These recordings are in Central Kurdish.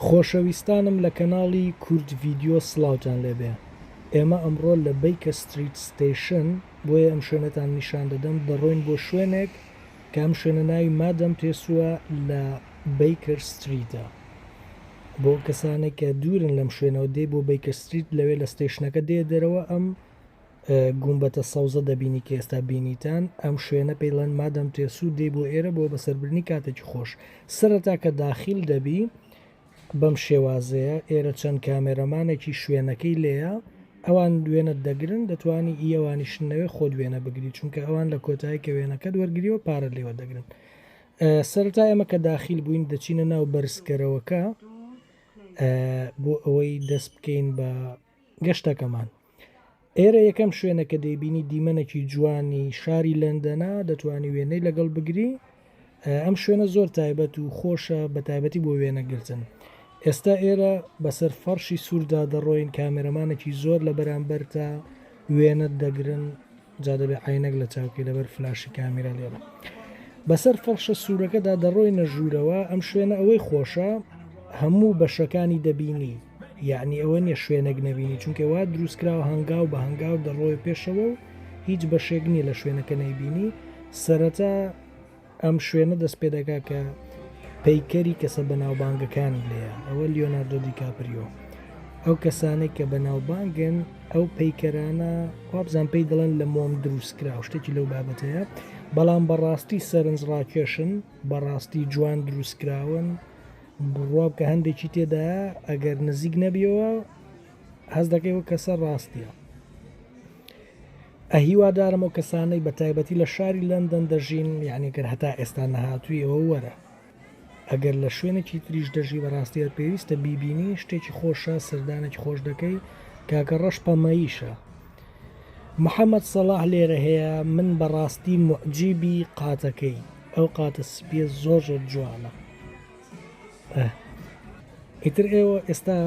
خۆشەویستانم لە کەناڵی کورد ڤیدیۆ سڵاوتان لێبێ ئێمە ئەمڕۆ لە بەیکە ستریت ستەیشن بۆیە ئەم شوێنەتان نیشان دەدەم دەڕۆین بۆ شوێنێک کە ئەم شوێنە ناوی مادەم تێسوە لە بەیکەر ستریتە بۆ کەسانێک کە دوورن لەم شوێنەوە دێ بۆ بەیکە ستریت لەوێ لە ستەیشنەکە دێ دەرەوە ئەم گومبەتە سەوزە دەبینی کە ئێستا بینیتان ئەم شوێنە پێی ڵێن مادەم تێسوو دێی بۆ ئێرە بۆ بەسەربردنی کاتێکی خۆش سەرەتا کە داخیل دەبی بەم شێوازەیە ئێرە چەند کامێرەمانێکی شوێنەکەی لێیە ئەوان دوێنە دەگرن دەتوانی ئیەوانیشنەوێ خۆ دوێنە بگری چونکە ئەوان لە کۆتایی کە وێنەکە دوەرگریەوە پارە لێوە دەگرن سەرتا ئێمە کە داخیل بووین دەچینە ناو بەرزکەرەوەکە بۆ ئەوەی دەست بکەین بە گەشتەکەمان ئێرە یەکەم شوێنە کە دەیبینی دیمەنێکی جوانی شاری لەندەنە دەتوانی وێنەی لەگەڵ بگری ئەم شوێنە زۆر تایبەت و خۆشە بە تایبەتی بۆ وێنەگرتن ئێستا ئێرە بەسەر فەرشی سووردا دەڕۆین کامێرەمانێکی زۆر لە بەرامبەرتە وێنەت دەگرن جا دەبێ عەینەک لە چاو کەی لەبەر فلاشی کامیرا لێرە بەسەر فەڕشە سوورەکەدا دەڕۆینە ژوورەوە ئەم شوێنە ئەوەی خۆشە هەموو بەشەکانی دەبینی یعنی ئەوە نیە شوێنێک نەبینی چونکە وا دروستکراوە هەنگاو بە هەنگاو دەڕۆی پێشەوە و هیچ بەشێک نییە لە شوێنەکە نەیبینی سەرەتا ئەم شوێنە دەست پێ دەکات کە پەیکەری کەسە بەناوبانگەکانی لێیە، ئەوە لیۆناردۆ دیکاپریۆ. ئەو کەسانەی کە بەناوبانگن ئەو پەیکەرانە وابزان پێی دەڵێن لە مۆم دروست کرا شتێکی لەو بابەتەیە، بەڵام بەڕاستی سەرنج ڕاکێشن بەڕاستی جوان دروست کراون بڕواب کە هەندێکی تێدایە ئەگەر نزیک نەبیەوە، هەست دەکەی و کەسە ڕاستە ئەهیوادارم و کەسانەی بە تایبەتی لە شاری لەندەن دەژین یانیکرد هەتا ئێستا نەهاتوویەوە وەرە ئەگەر لە شوێنێکی تریش دەژی بەڕاستیە پێویستە بیبینی شتێکی خۆشە سەردانێکی خۆش دەکەی کاکە ڕەش پەمەیشە محەممەد سەڵاح لێرە هەیە من بەڕاستی مجیبی قاتەکەی ئەو قاتە سپیە زۆر زۆر جوانە ئیتر ئێوە ئێستا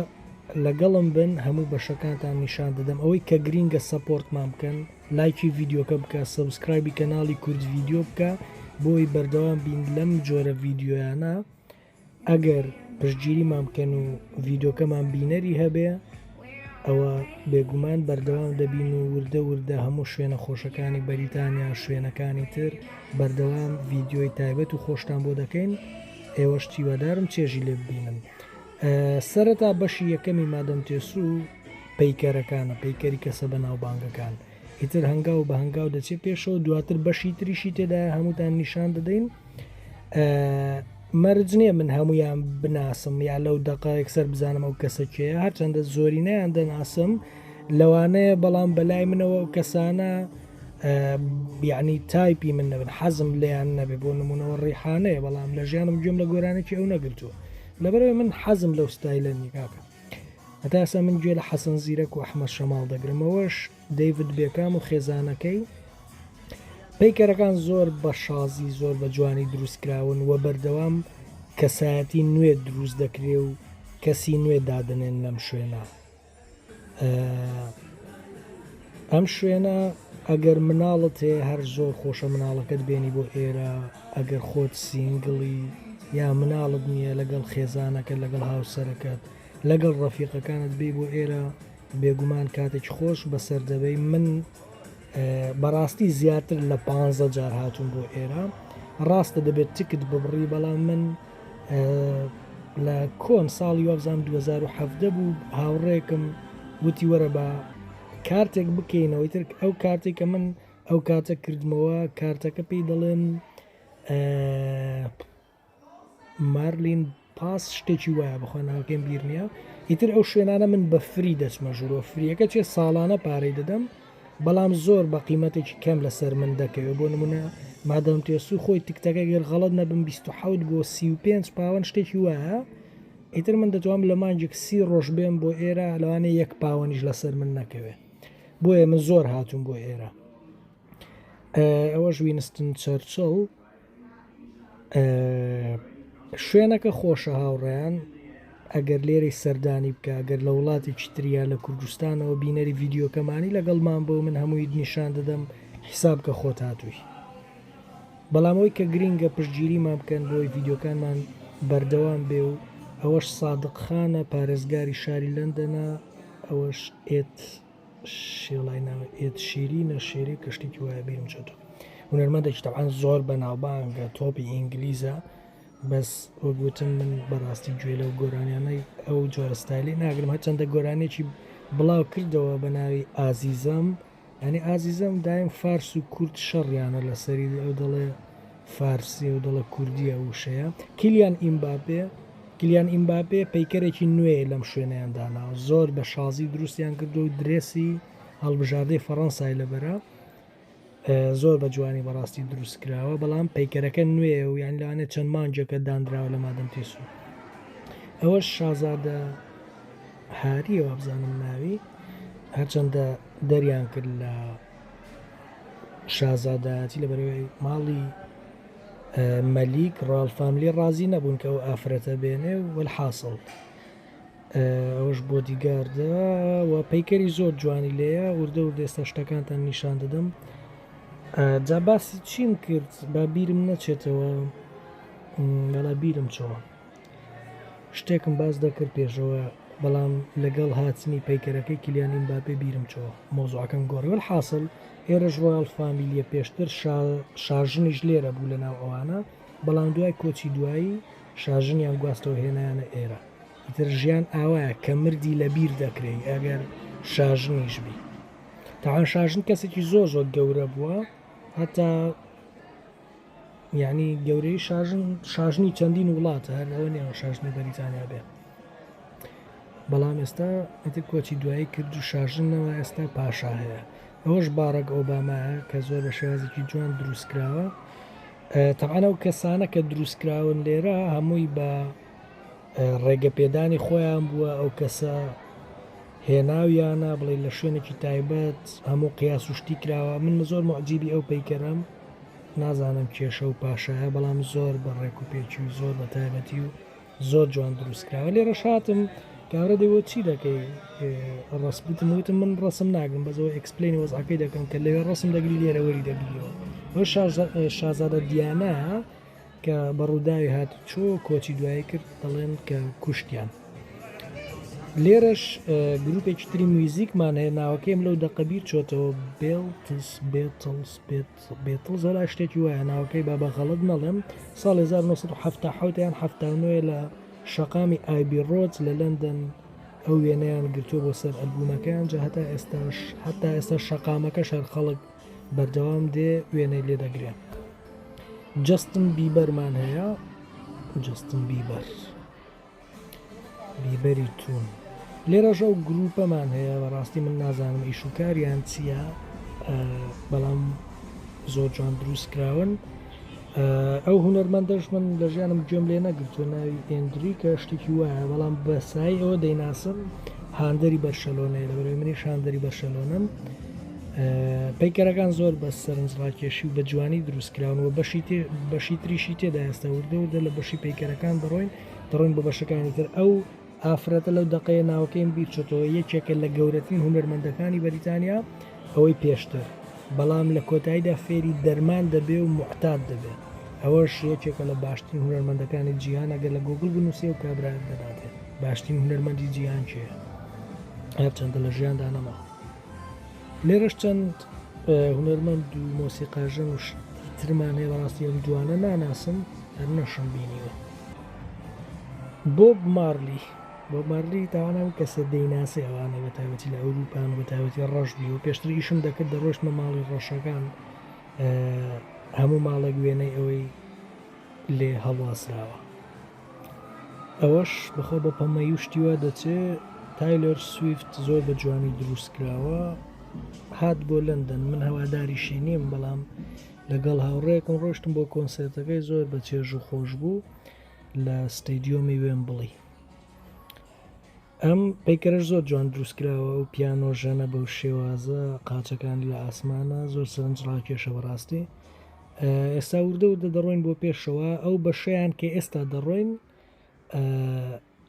لەگەڵم بن هەموو بەشەکانتان نیشان دەدەم ئەوەی کە گرینگە سەپۆرتمان بکەن لایکی یددیوکە بکە سبسکرایبی کەناڵی کورد یددیو بکە بۆی بەردەوام بین لەم جۆرە یددیویانە ئەگەر پشتگیریمان بکەن و یددیوکەمان بینەری هەبێ ئەوا بێگومان بەردەوام دەبین و وردە وردە هەموو شوێنە خۆشەکانی بەریتانیا شوێنەکانی تر بەردەوام ڤیددیۆی تایبەت و خۆشتان بۆ دەکەین ئێوەش تیوادارم چێژی لێ ببینن سەرەتا بەشی یەکەمی مادەم تێسو و پەیکەرەکانە پەیکەری کەسە بە ناوبانگەکان ئیتر هەنگاو بە هەنگاو دەچێت پێشەوە دواتر بەشی تریشی تێدایە هەمووتان نیشان دەدەین مەرج نییە من هەمویان بناسم یا لەو دقایەک سەر بزانم ئەو کەسەکەیە هەرچەندە زۆرینەیان دەناسم لەوانەیە بەڵام بەلای منەوە ئەو کەسانە بیانی تایپی من نەبن حەزم لیان نەبێ بۆ نمونەوە ڕیحانەیە بەڵام لە ژیانم گوێم لە گۆرانێکی ئەو نەگرتووە لەبەرەوەی من حەزم لەو ستایلە نیکاکە هەتا ئێستا من گوێ لە حەسەن زیرەک و ئەحمەد شەماڵ دەگرم ئەوەش دەیڤد بێکام و خێزانەکەی پیکەرەکان زۆر بە شازی زۆر بە جوانی دروستکراون و بەردەوام کەسایەتی نوێ دروست دەکرێ و کەسی نوێ دادنێن لەم شوێنە ئەم شوێنە ئەگەر مناڵت هەیە هەر زۆر خۆشە مناڵەکەت بێنی بۆ ئێرە ئەگەر خۆت سینگڵی یا مناڵت نییە لەگەڵ خێزانەکە لەگەڵ هاوسەرەکەت لەگەڵ ڕەفیقەکانت بێ بۆ ئێرە بێگومان کاتێک خۆش بەسەر دەبەی من بەڕاستی زیاتر لە پ جار هاتوون بۆ ئێرە ڕاستە دەبێت تکت ببڕی بەڵام من لە کۆن ساڵی وابزان 2017 بوو هاوڕێکم وتی وەرە بە کارتێک بکەینەوەی تر ئەو کارتێکە من ئەو کاتە کردمەوە کارتەکە پێی دەڵێن مارلین پاس شتێکی وایە بخۆن ناوکەم بیر نییە ئیتر ئەو شوێنانە من بە فری دەچمە ژورۆ فریەکە چێ ساڵانە پارەی دەدەم بەڵام زۆر بە قیمەتێکی کەم لەسەر من دەکەوێت بۆ نمونە مادام تێسو خۆی تکتەکە گەر غەڵەت نەبم بیست و حەوت بۆ سی و پێنج پاوەن شتێکی وایە ئیتر من دەتوانم لە مانگێک سی ڕۆژ بێم بۆ ئێرە لەوانێ یەک پاوەنیش لەسەر من نەکەوێ بۆیە من زۆر هاتووم بۆ ئێرە ئەوەش وینستن چەرچڵ شوێنەکە خۆشە هاوڕێیان ئەگەر لێرەی سەردانی بکە گەر لە وڵاتی چتریا لە کوردستانەوە بینەری یددیوکەمانی لەگەڵمان بۆ من هەمووی نیشان دەدەم حیساب کە خۆت هاتووی بەڵامەوەی کە گرینگە پشتگیریمان بکەن بۆی یددیوکانمان بەردەوام بێ و ئەوەش سادقخانە پارێزگاری شاری لەندەنە ئەوەش ئێت شێڵای ناوە ئێت شیری نەشێری کە شتێکی وایە بیرم چێتەوە هونەرمەندێکی تەعاان زۆر بە ناوبانگە تۆپی ئینگلیزە بەس وەگوتم من بەڕاستی گوێ لەو گۆرانیانەی ئەو جۆرەستایلی ناگرم هەچەندە گۆرانێکی بڵاو کردەوە بە ناوی ئازیزم ئەنی ئازیزم دایم فارس و کورد شەڕیانە لەسەری ئەو دەڵێ فارسییە و دەڵێت کوردییە ئەو وشەیە. کیلیان ئیمباپێ کیلیان ئیمباپێ پەیکەرێکی نوێی لەم شوێنەیان داناوە، زۆر بە شازی دروستیان کردووە و درێسی هەڵبژاردەی فەڕەنسای لەبەرە، زۆر بە جوانی بەڕاستی دروست کراوە، بەڵام پەیکەرەکە نوێیە و یان لەوانێ چەند مانگێکە دانراوە لە مادەم تێسوو. ئەوەش شازادە هارییە وابزانم ناوی، هەرچەندە دەریان کرد لە شازادایەتی لە بەرەی ماڵی مەلیک ڕاڵ فاملی ڕازی نەبوون کە ئەو ئافرەتە بێنێ وەل حاصل ئەوش بۆ دیگاردە و پەیکەری زۆر جوانی لێە وردە و دێستە شتەکانتان نیشان دەدەم جا باسی چیم کرد با بیرم نەچێتەوە بەڵا بیرم چەوە شتێکم باس دەکرد پێشەوە بەڵام لەگەڵ هاتنی پەیکەرەکەی کلیان ئیمباپێ بیرم چووە مۆزوعەکەم گۆڕی وەلحاسڵ ئێرەش ڕۆیاڵ فامیلیە پێشتر شاژنیش لێرە بوو لەناو ئەوانە بەڵام دوای کۆچی دوایی شاژنیان گواستەوە هێنایانە ئێرە ئیتر ژیان ئاوایە کە مردی لە بیر دەکرێی ئەگەر شاژنیش بی تاوان شاژن کەسێکی زۆر زۆر گەورە بووە هەتا یانی گەورەی شاژن شاژنی چەندین وڵاتە هەر ئەوە نیە شاژنی بەریتانیا بێ بەڵام ئێستا ئەتر کۆچی دوایی کرد و شاژنەوە ئێستا پاشا هەیە ئەوەش باڕەک ئۆبامایە کە زۆر بە شێوازێکی جوان دروستکراوە تەعاە و کەسانە کە دروستکراون لێرە هەمووی بە ڕێگەپێدانی خۆیان بووە ئەو کەسە هێناویانە بڵێ لە شوێنێکی تایبەت هەموو قیاس و شتی کراوە من زۆر مەعجیبی ئەو پەیکەرم نازانم کێشە و پاشایە بەڵام زۆر بە ڕێک و پێچی و زۆر بە تایبەتی و زۆر جوان دروستکراوە لێ ڕەشاتم کارە دەوە چی دەکەی ڕستبتم وتم من ڕسم ناگرم بەزەوە ئەکسپلینی وەزعەکەی دەکەم کە لەوێ ڕسم دەگری لێرەوەری دەگریەوە شازادە دیانە کە بە ڕووداوی هاتوچۆ کۆچی دوایی کرد دەڵێن کە کوشتیان. لێرەش گروپێکی تری میوزیکمان هەیە ناوەکەیم لەو دەقە بیر چۆتەوە بێڵتس بێتڵس بێتڵ زۆر شتێکی وایە ناوەکەی با بە غەڵت نەڵێم ساڵ 1970 یان هەفتانوێ لە شەقامی ئایبی ڕۆت لە لەندەن ئەو وێنەیان گرتووە بۆ سەر ئەلبوونەکەیان جا هەتا ئێستاش هەتا ئێستا شەقامەکە شار خەڵک بەردەوام دێ وێنەی لێ دەگرێ. جەستن بیبەرمان هەیە جەستن بیبەر بیبەری تون لێرەش ئەو گروپەمان هەیە بەڕاستی من نازانم ئیش و کاریان چییە بەڵام زۆر جوان دروست کراون ئەو هونەرمەندەش من لە ژیانم گوێم لێ نەگرتووە ناوی ئێندریکە شتێکی وایە بەڵام بە سای ئەوە دەیناسم هاندەری بەرشەلۆنەیە لە بەرەوەی منیش هاندەری بەرشەلۆنم پەیکەرەکان زۆر بە سەرنج ڕاکێشی و بە جوانی دروستکراون و بەشی بەشی تریشی تێدا ئێستا وردەوردە لە بەشی پەیکەرەکان دەڕۆین دەڕۆین بە بەشەکانی تر ئەو ئافرەتە لەو دەقەیە ناوەکەیم بیرچۆتەوە یەکێکە لە گەورەترین هونەرمەندەکانی بەریتانیا ئەوەی پێشتر بەڵام لە کۆتاییدا فێری دەرمان دەبێ و موعتاد دەبێ ئەوەش یەکێکە لە باشترین هونەرمەندەکانی جیهان ئەگەر لە گۆگڵ بنووسێ و کابرایەک دەداتێ باشترین هونەرمەندی جیهان کێیە هەرچەندە لە ژیاندا نەما لێرەش چەند هونەرمەند و مۆسیقاژەن و ترمان هەیە بەڕاستی ئەم جوانە ناناسم هەر نەشم بینیوە بۆب مارلی بۆب مارلی تاوانە و کەسە دەیناسی ئەوانە بە تایبەتی لە ئەوروپان بە تایبەتی ڕەش بی و پێشتر ئیشم دەکرد دەڕۆشتمە ماڵی ڕەشەکان هەموو ماڵێک وێنەی ئەوەی لێ هەڵواسراوە ئەوەش بەخۆ بە پەمەی و شتیوە دەچێ تایلۆر سویفت زۆر بە جوانی دروستکراوە هات بۆ لەندەن من هەواداری شینیم بەڵام لەگەڵ هاوڕێیەکم ڕۆشتم بۆ کۆنسێرتەکەی زۆر بە چێژ و خۆش بوو لە ستەیدیۆمی وێن بڵی ئەم پەیکەرە زۆر جوان دروستکراوە و پیانۆ ژەنە بەو شێوازە قاچەکان لە ئاسمانە زۆر سەرنج ڕاکێشە بەڕاستی ئێستا وردە وردە دەڕۆین بۆ پێشەوە ئەو بەشیان کە ئێستا دەڕۆین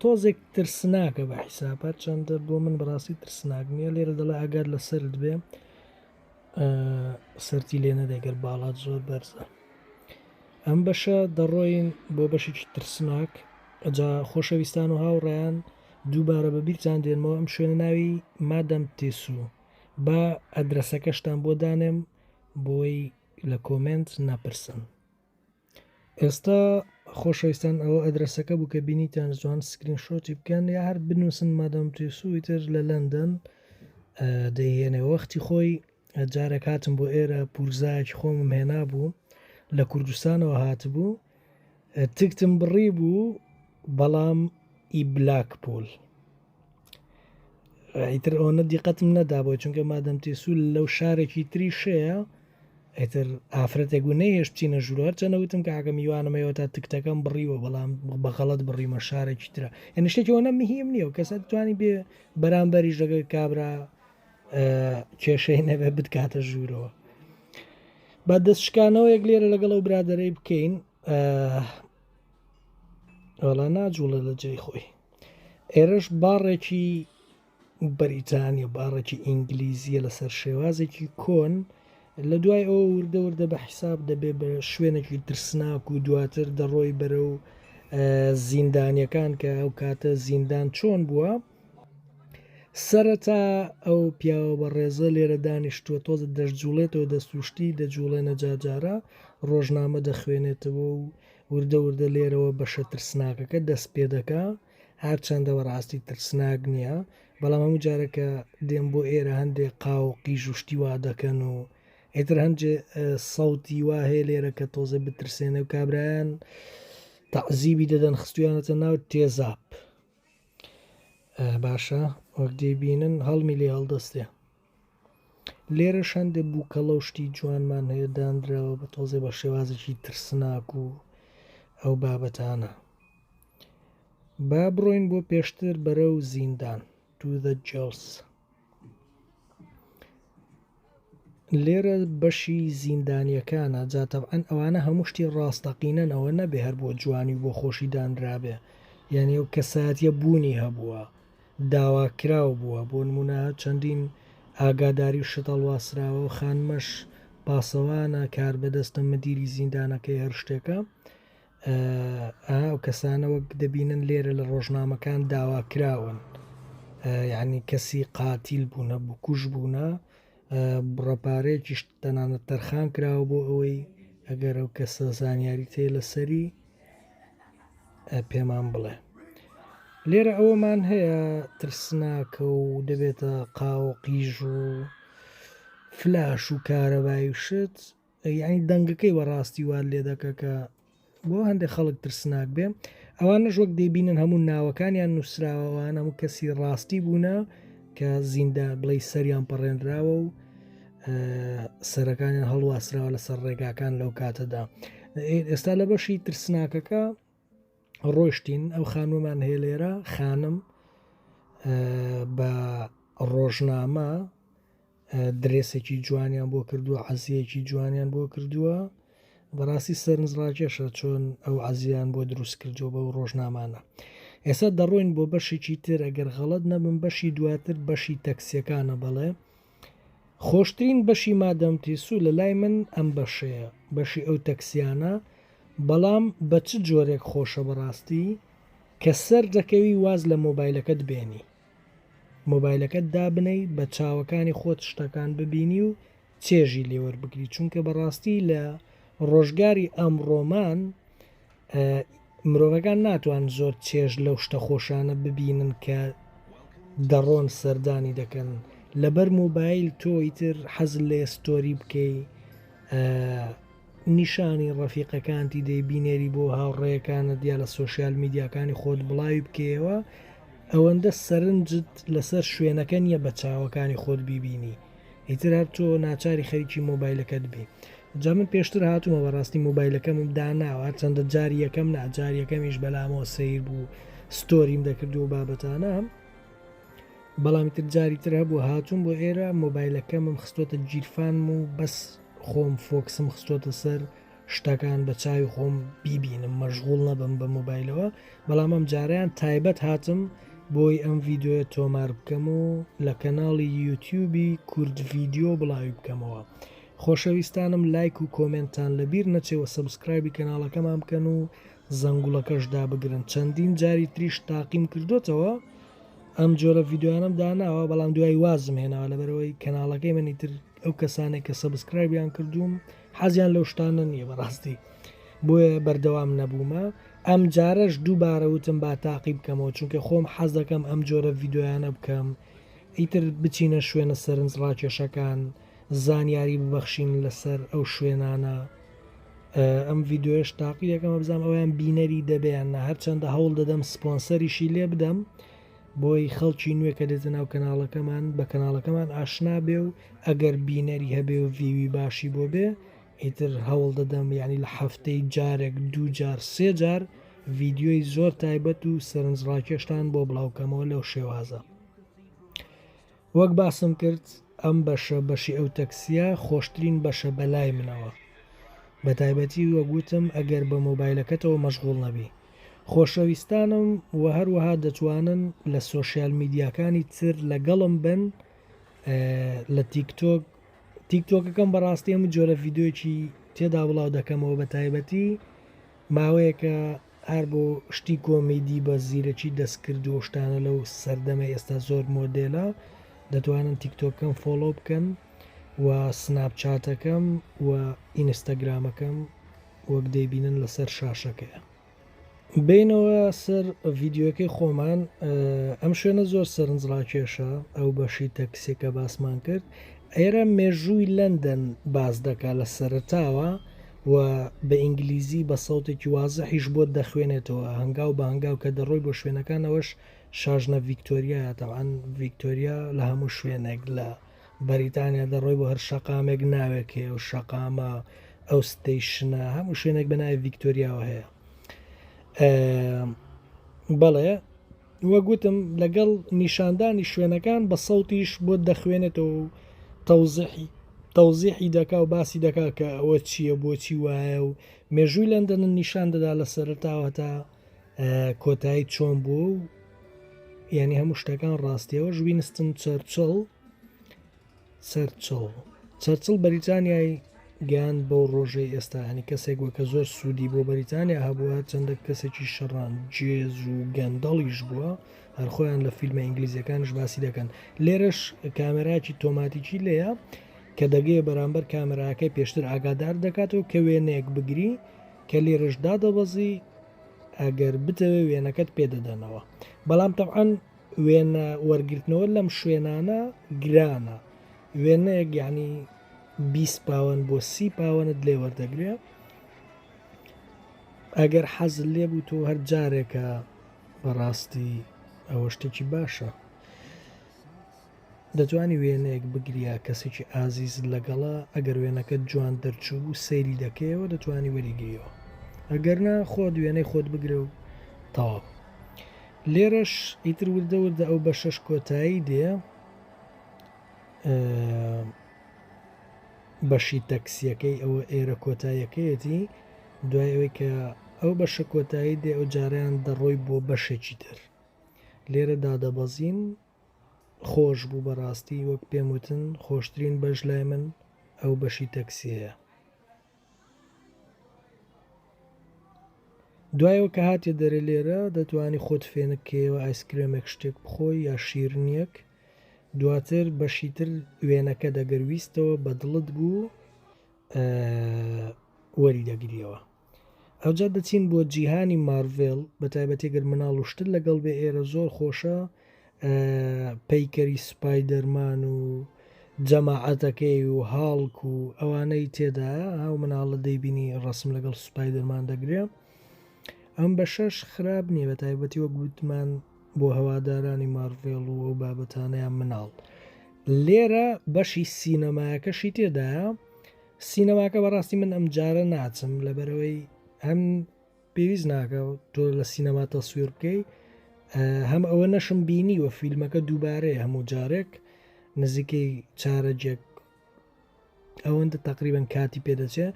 تۆزێک ترسناکە بە حیساپەر چەندە بۆ من بەڕاستی ترسناک نییە لێرە دەڵێ ئەگەر لەسرد بێ سەرتی لێ نەدە گەر باڵات زۆر بەرزە ئەم بەشە دەڕۆین بۆ بەشێکی ترسناک ئەجا خۆشەویستان و هاوڕێیان دووبارە بە بیرتان دێنمەوە ئەم شوێنە ناوی مادەم تێسوو بە ئەدرسەکەشتان بۆ دانێم بۆی لە کۆمنت نەپرسن ئێستا خۆشەویستان ئەوە ئەدرەسەکە بوو کە بینیتان جوان سکرین شۆتی بکەن یا هەر بنووسن مادەم توێسوی تر لە لەندەن دەیهێنێ وەختی خۆی جارێک هاتم بۆ ئێرە پورزایەکی خۆمم هێنا بوو لە کوردستانەوە هاتبوو تکتم بڕی بوو بەڵام ئی بلاک پۆل ئیتر ئەوەنە دیقەتم نەدابوو چونکە مادەم تێسوول لەو شارێکی تری شەیە ئیتر ئافرەتێک و نەیهێش بچینە ژوورەر چەنە وتم کە ئاگەم میوانمەوە تا تکتەکەم بڕیوە بەڵام بەغەڵت بڕیمە شارێکی تررا یعنی شتێکەوە نە مهم نییە و کەسە توانی بێ بەرامبەری ژەگە کابرا کێشەی نەبێ بتکاتە ژوورەوە بە دەست شکانەوە یەک لێرە لەگەڵ ئەو برادەرەی بکەین ئەڵە ناجوڵە لە جێی خۆی ئێرەش باڕێکی بەریتانیە باڕێکی ئینگلیزیە لەسەر شێوازێکی کۆن لە دوای ئەوە وردە وردە بە حیساب دەبێ بە شوێنێکی ترسناک و دواتر دەڕۆی بەرە و زیندانیەکان کە ئەو کاتە زیندان چۆن بووە سەرەتا ئەو پیاوە بە ڕێزە لێرە دانیشتووە تۆزە دەشجوڵێتەوە دەستوشتی دەجوڵێنە جاجارە ڕۆژنامە دەخوێنێتەوە و وردە وردە لێرەوە بەشە ترسناکەکە دەست پێ دەکا هەرچەندە بەڕاستی ترسناک نییە بەڵام هەموو جارە کە دێن بۆ ئێرە هەندێک قاو و قیژ و شتی وا دەکەن و ئێتر هەندێ سەوتی وا هەیە لێرە کە تۆزە بترسێنە و کابرایان تەعزیبی دەدەن خستویانەتە ناو تێزاب باشە وەک دەیبینن هەڵمی لێ هەڵدەستێ لێرەش هەندێک بووکەڵە و شتی جوانمان هەیە دانراوە بە تۆزێ بە شێوازێکی ترسناک و ئەو بابەتانە با بڕۆین بۆ پێشتر بەرە و زیندان to the jails لێرە بەشی زیندانیەکانە جاتەبعەن ئەوانە هەموو شتی ڕاستەقینەنەوە نەبێ هەر بۆ جوانی و بۆ خۆشی دانرابێ یعنی ئەو کەساتە بوونی هەبووە داواکراو بووە، بۆ نموونە چەندین ئاگاداری و شت هەڵواسراوە و خانمەش پاسەوانە، کاربەدەستە، مدیری زیندانەکەی هەر شتێکە. ئا ئەو کەسانە وەک دەبینن لێرە لە ڕۆژنامەکان داواکراون، یانی کەسی قاتیل بوونە، بکوژ بوونە، بڕە پارەیەکیش تەنانەت تەرخان کراوە بۆ ئەوەی ئەگەر ئەو کەسە زانیاریی تێ لەسەری پێمان بڵێ لێرە ئەوەمان هەیە ترسناکە و دەبێتە قاو قیژ و فلاش و کارەبای و شت یعنی دەنگەکەی بەڕاستی وال لێ دەکە کە بۆ هەندێک خەڵک ترسناک بێ ئەوانە ژۆک دەبینن هەموو ناوەکانیان نووسراوەوانە و کەسی ڕاستی بوونە کە زیندە بڵی سەریان پەڕێنراوە و سەرەکانیان هەڵواسراوە لەسەر ڕێگاکان لەو کاتەدا ئێستا لە بەشی ترسناکەکە ڕۆشتین ئەو خانومان هەیە لێرە خانم بە ڕۆژنامە درێسێکی جوانیان بۆ کردووە عزیەکی جوانیان بۆ کردووە بەڕاستی سەرنجڕاکێشە چۆن ئەو عزیان بۆ دروست کردو بە و ڕۆژنامانە ئێستا دەڕۆین بۆ بەشێکی تر ئەگەر غەڵت نەبم بەشی دواتر بەشی تەکسیەکانە بەڵێ خۆشترین بەشی مادام تیسو لەلای من ئەم بەشەیە بەشی ئەو تەکسیانە بەڵام بە چ جۆرێک خۆشە بەڕاستی کە سەر دەکەوی واز لە مۆبایلەکەت بێنی مۆبایلەکەت دابنەی بە چاوەکانی خۆت شتەکان ببینی و چێژی لێوەربگری چونکە بەڕاستی لە ڕۆژگاری ئەمڕۆمان مرۆڤەکان ناتوان زۆر چێژ لەو شتە خۆشانە ببینن کە دەڕۆن سەردانی دەکەن لەبەر موبایل تۆی تر حەز لێ ستۆری بکەی نیشانی ڕەفیقەکانتی دەی بینێری بۆ هاوڕێیەکانە دیا لە سوۆسیال میدیاکانی خۆت بڵاوی بکەیەوە ئەوەندە سەرنجت لەسەر شوێنەکە نیە بە چاوەکانی خۆت بیبینی ئیتر هەر تۆ ناچاری خەریکی مۆبایلەکەت بی جا من پێشتر هاتوومە بەڕاستی مۆبایلەکەمم داناوە چەندە جار یەکەم ناجار یەکەمیش بەلامەوە سیر بوو ستۆریم دەکردو و بابەتانە بەڵامی تر جاری تر هەبوو هاتوون بۆ ئێرە مۆبایلەکەمم خستۆتە گیرفان و بەس خۆم فۆکسم خستۆتە سەر و شتەکان بە چاوی خۆم بیبینم مەژغول نەبم بە موبایلەوە بەڵام ئەم جاریان تایبەت هاتم بۆی ئەم ڤیددیوە تۆمار بکەم و لە کەناڵی یوتیوبی کورد ڤیددیو بڵاوی بکەمەوە خۆشەویستانم لایک و کۆمنتان لە بیر نەچێوە سەبسکرایبی کەناڵەکەمان بکەن و زەنگوڵەکەش دابگرن چەندین جاری تریش تاقیم کردوتەوە ئەم جۆرە ڤیددیوانم داناوە بەڵام دوای وازم هێناوە لەبەرەوەی کەناڵەکەی منی تر ئەو کەسانێک کە سەبسکرایبیان کردووم حەزیان لەو شتانە نیە بەڕاستی بۆیە بەردەوام نەبوومە ئەم جارەش دووبارە وتم با تاقی بکەمەوە چونکە خۆم حەز دەکەم ئەم جۆرە ڤیددیویانە بکەم ئیتر بچینە شوێنە سەرنج ڕاکێشەکان زانیاری ببەخشین لەسەر ئەو شوێنانە ئەم ڤیددیوش تاقی دەکەمە بزانام ئەویان بینەری دەبیان نە هەرچەندە هەوڵ دەدەم سپۆنسەریشی لێ بدەم و بۆی خەڵکی نوێ کە دێتە ناو کەناڵەکەمان بە کەناڵەکەمان ئاشنا بێ و ئەگەر بینەری هەبێ و ڤیوی باشی بۆ بێ ئیتر هەوڵ دەدەم یعنی لە هەفتەی جارێک دوو جار سێ جار ڤیددیۆی زۆر تایبەت و سەرنجڕاکێشتان بۆ بڵاوکەمەوە لەو شێوازە وەک باسم کرد ئەم بەشە بەشی ئەو تەکسیە خۆشترین بەشە بەلای منەوە بەتایبەتی وەک وتم ئەگەر بە مۆبایلەکەتەوە مەشغوڵ نەبی خۆشەویستانم وە هەروەها دەتوانن لە سۆشیال میدیاکانی تر لەگەڵم بن لە تیک تۆک تیک تۆکەکەم بەڕاستی ئەم جۆرە ڤیددیوکی تێدا بڵاو دەکەمەوە بە تایبەتی ماوەیەکە ئار بۆ شتی کۆمیدی بە زیرەکی دەست کرد و شتانە لەو سەردەمە ئێستا زۆر مۆدێلە دەتوانن تیکتۆکەم فۆڵۆ بکەن و سناپ چاتەکەم و ئینستاگرامەکەم وەک دەیبینن لەسەر شاشەکەیە بینەوە سەر ڤیددیوەکەی خۆمان ئەم شوێنە زۆر سەرنجڕاکێشە ئەو بەشی تەکسێکە باسمان کرد ئێرە مێژووی لەندەن باز دەکا لە سەرتاوە و بە ئینگلیزی بە سەوتێکی وازحیش بۆت دەخوێنێتەوە هەنگاو بە هەنگاو کە دەڕۆی بۆ شوێنەکان ئەوەش شاژنە ڤیکتۆریا تەوان ڤیکتۆریا لە هەموو شوێنێک لە بەریتانیا دەڕۆی بۆ هەر شەقامێک ناوێک هەیە و شەقامە ئەو ستەیشنە هەموو شوێنێک بە ناوی ڤیکتۆریاوە هەیە بەڵێ وەک وتم لەگەڵ نیشاندانی شوێنەکان بە سەوتیش بۆت دەخوێنێتەوە و تەوزیحی تەوزیحی دەکا و باسی دەکا کە ئەوە چییە بۆچی وایە و مێژووی لەندەنن نیشان دەدا لە سەرتاوە تا کۆتایی چۆن بوو و یعنی هەموو شتەکان ڕاستیەوە ژوینستن چەرچڵ چەرچڵ چەرچڵ بەریتانیای گەیاند بەو ڕۆژەی ئێستا هەنی کەسێک وە کە زۆر سوودی بۆ بەریتانیا هەبووە چەندە کەسێکی شەڕان جێز و گەندەڵیش بووە هەرخۆیان لە فیلمە ئینگلیزیەکانش باسی دەکەن لێرەش کامێراکی تۆماتیکی لێە کە دەگەێ بەرامبەر کامێراکەی پێشتر ئاگادار دەکاتەوە کە وێنەیەک بگری کە لێرەش دادەبەزی ئەگەر بتەوێ وێنەکەت پێدەدەنەوە بەڵام تەعاان وێنە وەرگرتنەوە لەم شوێنانە گرانە وێنەیەک یعنی بیست پاوەن بۆ سی پاوەنت لێ وەردەگرێ ئەگەر حەزل لێ بوو تۆ هەر جارێکە بەڕاستی ئەوە شتێکی باشە دەتوانی وێنەیەک بگریا کەسێکی ئازیزت لەگەڵە ئەگەر وێنەکەت جوان دەرچوو و سەیری دەکەیەوە دەتوانی وەریگریەوە ئەگەر نا خۆت وێنەی خۆت بگرە و تەواو لێرەش ئیتر وردە وردە ئەو بە شەش کۆتایی دێ بەشی تەکسیەکەی ئەوە ئێرە کۆتایەکەیەتی دوای ئەوەی کە ئەو بەشە کۆتایی دێ ئەو جاریان دەڕۆی بۆ بەشێکی تر لێرە دادەبەزین خۆش بوو بەڕاستی وەک پێم وتن خۆشترین بەش لای من ئەو بەشی تەکسیەیە. دوایەوە کە هاتیە دەرێ لێرە دەتوانی خۆت فێنک کەیەوە ئایسکرێمێک شتێک بخۆی یا شیرنیەک دواتر بەشی تر وێنەکە دەگەر ویستەوە بە دڵت بوو وەری دەگریەوە. ئەوجا دەچین بۆ جیهانی مارڤێڵ بەتایبەتی گەر مناڵ و شتر لەگەڵ بێ ئێرە زۆر خۆشە پەیکەری سپایدەرمان و جەماعەتەکەی و هاڵک و ئەوانەی تێدا ئەو مناڵە دەیبینی ڕسم لەگەڵ سوپای دەرمان دەگرێ ئەم بە شەش خراپ نییە بە تایبەتی وەک گوتمان بۆ هەوادارانی مارڤێڵ و ئەو بابەتانەیان مناڵ لێرە بەشی سینەمایەکەشی تێدایە سینەماکە بەڕاستی من ئەم جارە ناچم لەبەرەوەی هەم پێویست ناکە تۆ لە سینەما تەسویر بکەی هەم ئەوە نەشم بینی وە فیلمەکە دووبارەیە هەموو جارێک نزیکەی چارەجێک ئەوەندە تقریبان کاتی پێدەچێ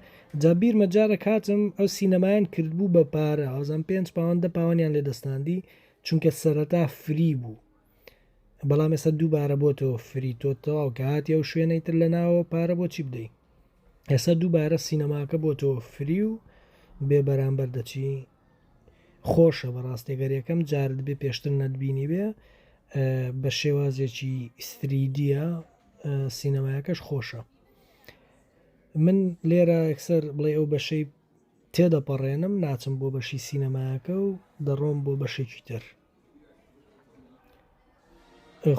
جابیر مەجارە کاتم ئەو سینەمایان کردبوو بە پارە ئازان پێنج پاوەندە پاوانیان لێ دەستاندی چونکە سەرەتا فری بوو بەڵام ئێستا دووبارە بۆ تۆ فری تۆ تەواو کە هاتی ئەو شوێنەی تر لە ناوە پارە بۆ چی بدەیت ئێستا دووبارە سینەماکە بۆ تۆ فری و بێ بەرامبەر دەچی خۆشە بە ڕاستێگەرەکەم جارد بێ پێشتر نەتبینی بێ بە شێوازێکی ئیستریدیە سینەمایەکەش خۆشە من لێرە ئەکسەر بڵێ ئەو بەشەی تێدەپەڕێنم ناچم بۆ بەشی سینەماکە و دەڕۆم بۆ بەشێکی تر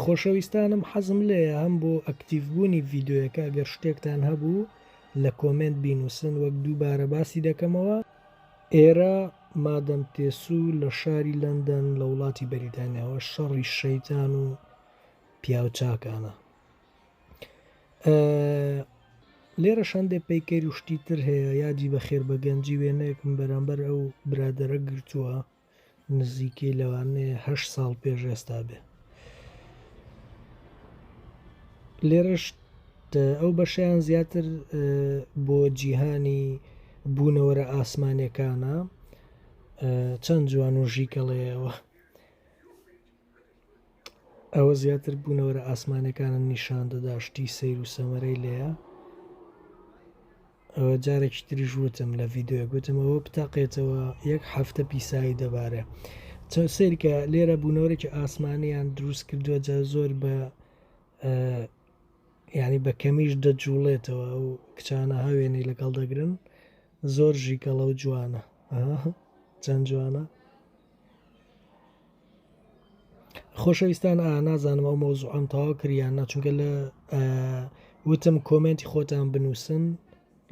خۆشەویستانم حەزم لێیە هەم بۆ ئەکتیڤ بوونی ڤیددیوەکە گەر شتێکتان هەبوو لە کۆمنت بینووسن وەک دووبارە باسی دەکەمەوە ئێرە مادەم تێسوو لە شاری لەندەن لە وڵاتی بەریتانیاوە شەڕی شەیتان و پیاوچاکانە لێرە شەندێ پەیکەری شتی تر هەیە یادی بەخێر بە گەنجی وێنەیەکم بەرامبەر ئەو برادرە گرتووە نزیکەی لەوانەیە هەشت ساڵ پێش ئێستا بێ لێرەش ئەو بەشیان زیاتر بۆ جیهانی بوونەوەرە ئاسمانەکانە چەند جوان و ژیکەڵەیەوە ئەوە زیاتر بوونەوەرە ئاسمانەکانم نیشان دەداشتی سیر و سەمەرەی لێە ئەوە جارێکی تریش وتم لە ڤیددیوەک وتم ئەوە بتاقێتەوە یەک هەفتە پیسایی دەبارێ چەند سیرکە لێرە بوونەوەێکی ئاسمانیان دروست کردووە جا زۆر بە ینی بە کەمیش دەجوڵێتەوە ئەو کچانە هاوێنەی لەگەڵ دەگرن زۆر ژیکەڵە و جوانە چەند جوانە خۆشەویستان ئا نازانم ئەو مەوزوعەم تەواو کرد یان نا چونکە لە وتم کۆمێنتی خۆتان بنووسن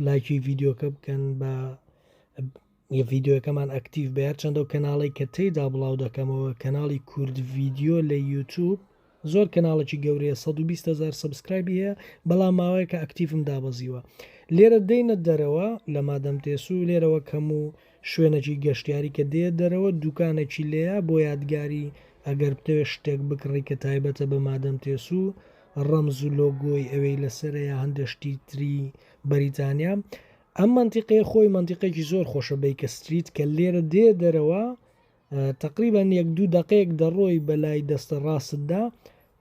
لایکی ڤیددیوکە بکەن بە ڤیددیوەکەمان ئەکتیڤ بە هەرچەندە و کەناڵی کە تێدا بڵاو دەکەمەوە کەناڵی کورد ڤیددیو لە یوتوب زۆر کەناڵێکی گەورەیە سەد و بیست هەزار سەبسکرایبی هەیە بەڵام ماوەیەکە ئەکتیڤم دابەزیوە لێرە دێنە دەرەوە لە مادەم تێسو لێرەوە کەم و شوێنێکی گەشتیاری کە دێ دەرەوە دوکانێکی لێیە بۆ یادگاری ئەگەر بتەوێت شتێک بکڕی کە تایبەتە بە مادەم تێسو ڕەمز و لۆگۆی ئەوێی لەسەرە یا هەندێک شتی تری بەریتانیا ئەم منتیقەیە خۆی منتیقێکی زۆر خۆشە بیکە ستریت کە لێرە دێ دەرەوە تەقریبەن یەک دوو دەقەیەک دەڕۆی بە لای دەستە ڕاستدا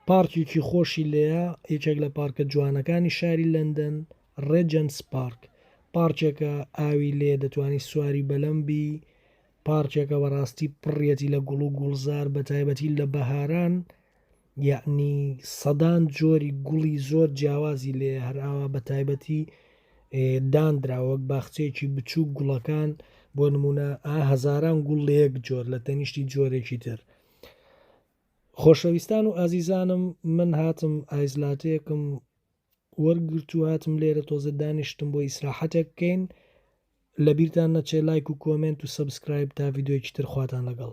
پارکێکی خۆشی لێە یەکێک لە پارکە جوانەکانی شاری لەندەن ڕێجەنس پارک پارچێکە ئاوی لێ دەتوانانی سواری بەلەمبی پارچێکە بەڕاستی پڕیەتی لە گوڵ و گوڵزار بە تایبەتی لە بەهاران یەعنی سەدان جۆری گوڵی زۆر جیاوازی لێیە هەر ئاوا بە تایبەتی دانراوە وەک باخچەیەکی بچووک گوڵەکان بۆ نمونە ئا هەزاران گوڵ لە یەک جۆر لە تەنیشتی جۆرێکی تر خۆشەویستان و ئازیزانم من هاتم ئایزلاتەیەکم وەرگرت و هاتم لێرە تۆزە دانیشتم بۆ ئیسراحەتێک بکەین لە بیرتان نەچێ لایک و کۆمنت و سبسکرایب تا یددیوکی ترخواتان لەگەڵ